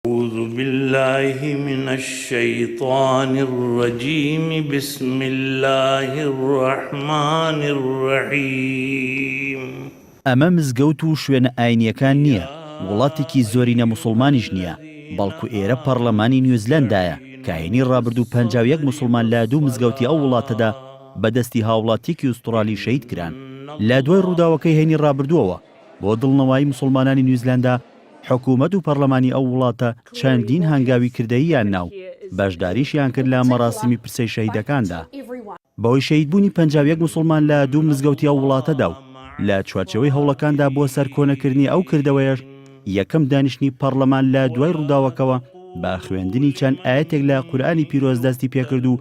اعوذ باللہ من الشیطان الرجیم بسم اللہ الرحمن الرحیم. ئەمە مزگەوت و شوێنە ئاینیەکان نیە، وڵاتێکی زۆرینە موسوڵمانیش نیە، بەڵکو ئێرە پەڕلەمانی نیوزلەندایە، کاهینی ڕابردوو پەنجا و یەک موسوڵمان لە دوو مزگەوتی ئەو وڵاتەدا بە دەستی هاوڵاتیەکی ئوستوڕالی شەهید کران لە دوای ڕووداوەکەی هەینی ڕابردووەوە، بۆ دڵنەوایی موسڵمانانی نیوزلەندا، حکومەت و پەڕلەمانی ئەو وڵاتە چەندین هەنگاوی کردەییان نا و بەشداریشیان کرد لە مەراسیمی پرسەی شەهیدەکاندا، بەهۆی شەهیدبوونی پەنجا و یەک موسڵمان لە دوو مزگەوتی ئەو وڵاتەدا و لە چوارچێوەی هەوڵەکاندا بۆ سەرکۆنەکردنی ئەو کردەوەیەش، یەکەم دانیشتنی پەڕلەمان لە دوای ڕووداوەکەوە بە خوێندنی چەند ئایەتێک لە قورئانی پیرۆز دەستی پێکرد و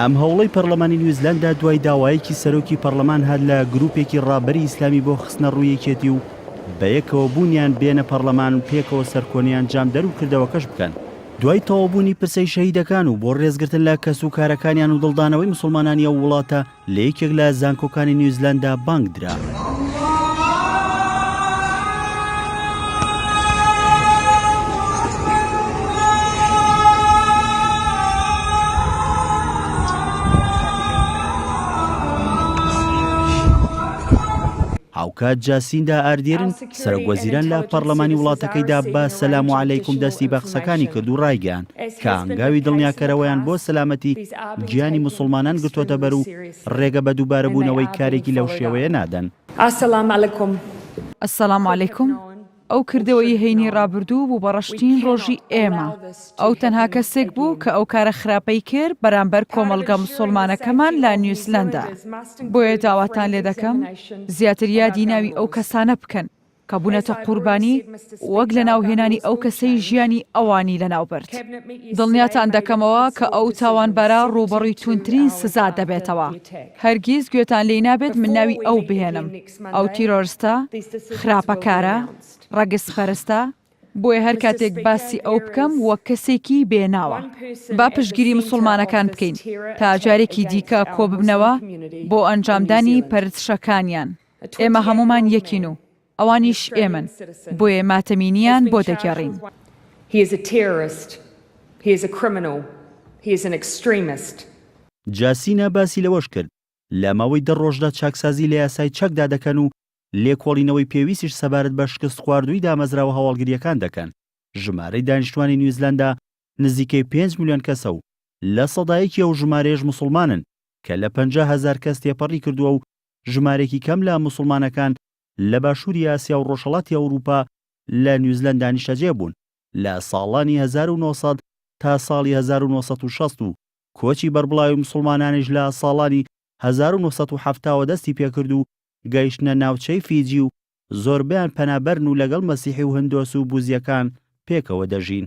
ئەم هەوڵەی پەرلەمانی نیوزلەندا دوای داوایەکی سەرۆکی پەرلەمان هات لە گروپێکی ڕابەری ئیسلامی بۆ خستنە ڕووی یەکێتی و بەیەکەوە بوونیان بێنە پەرلەمان و پێکەوە سەرکۆنەی ئەنجامدەر و کردەوەکەش بکەن. دوای تەواوبوونی پرسەی شەهیدەکان و بۆ ڕێزگرتن لە کەسوکارەکانیان و دڵدانەوەی موسڵمانانی ئەو وڵاتە، لە یەکێک لە زانکۆکانی نیوزلەندا بانگ درا. هاوکات جاسیندا ئاردیرن، سەرۆکوەزیران لە پەڕلەمانی وڵاتەکەیدا بە سەلام و عەلەیکوم دەستی بە قسەکانی کرد و ڕایگەیاند کە هەنگاوی دڵنیاکەرەوەیان بۆ سەلامەتی گیانی موسڵمانان گرتۆتە بەر و ڕێگە بە دووبارەبوونەوەی کارێکی لەو شێوەیە نادەن. السلام علیکم. السلام علیکم. ئەو کردەوەی هەینی ڕابردوو بوو بە ڕەشترین ڕۆژی ئێمە. ئەو تەنها کەسێک بوو کە ئەو کارە خراپەی کرد بەرامبەر کۆمەڵگا موسڵمانەکەمان لە نیوزلەندا. بۆیە داواتان لێدەکەم زیاتر یادی ناوی ئەو کەسانە بکەن. کە بونەتە قوربانی وەک لەناو هێنانی ئەو کەسەی ژیانی ئەوانی لەناو برد. دڵنیاتان دەکەمەوە کە ئەو تاوانبارە ڕووبەڕوی توندترین سزا دەبێتەوە. هەرگیز گوێتان لێی نابێت من ناوی ئەو بهێنم. ئەو تیرۆرستە، خراپەکارە، ڕەگەزپەرستە، بۆیە هەر کاتێک باسی ئەو بکەم وەک کەسێکی بێ ناوە. با پشتگیری مسوڵمانەکان بکەین تا جارێکی دیکە کۆببنەوە بۆ ئەنجامدانی پەرتشەکانیان. ئێمە هەموومان یەکین و ئەوانیش ئێمەن، بۆیە ماتەمینییان بۆ دەگێڕین. جاسینا باسی لەوەش کرد، لە ماوەی دە ڕۆژدا چاکسازی لە یاسای چەکدا دەکەن و لێکۆڵینەوەی پێویستیش سەبارەت بە شکستخواردووی دامەزراوە هەواڵگرییەکان دەکەن، ژمارەی دانیشتووانی نیوزلەندا نزیکەی پێنج ملیۆن کەسە و لە سەدا یەکی ئەو ژمارەیەش موسڵمانن کە لە پەنجا هەزار کەس تێپەڕی کردووە و ژمارەیەکی کەم لە موسڵمانەکان لە باشووری ئاسیا و ڕۆژهەڵاتی ئەوروپا لە نیوزلەندا نیشتەجێ بوون لە ساڵانی هەزار و نۆ سەد تا ساڵی هەزار و نۆ سەد و شەست و کۆچی بەربڵاوی موسڵمانانیش لە ساڵانی هەزار و نۆ سەد و حەفتا وە دەستی پێکرد و گەیشتنە ناوچەی فیجی و زۆربەیان پەنابەرن و لەگەڵ مەسیحی و هندۆس و بوزیەکان پێکەوە دەژین.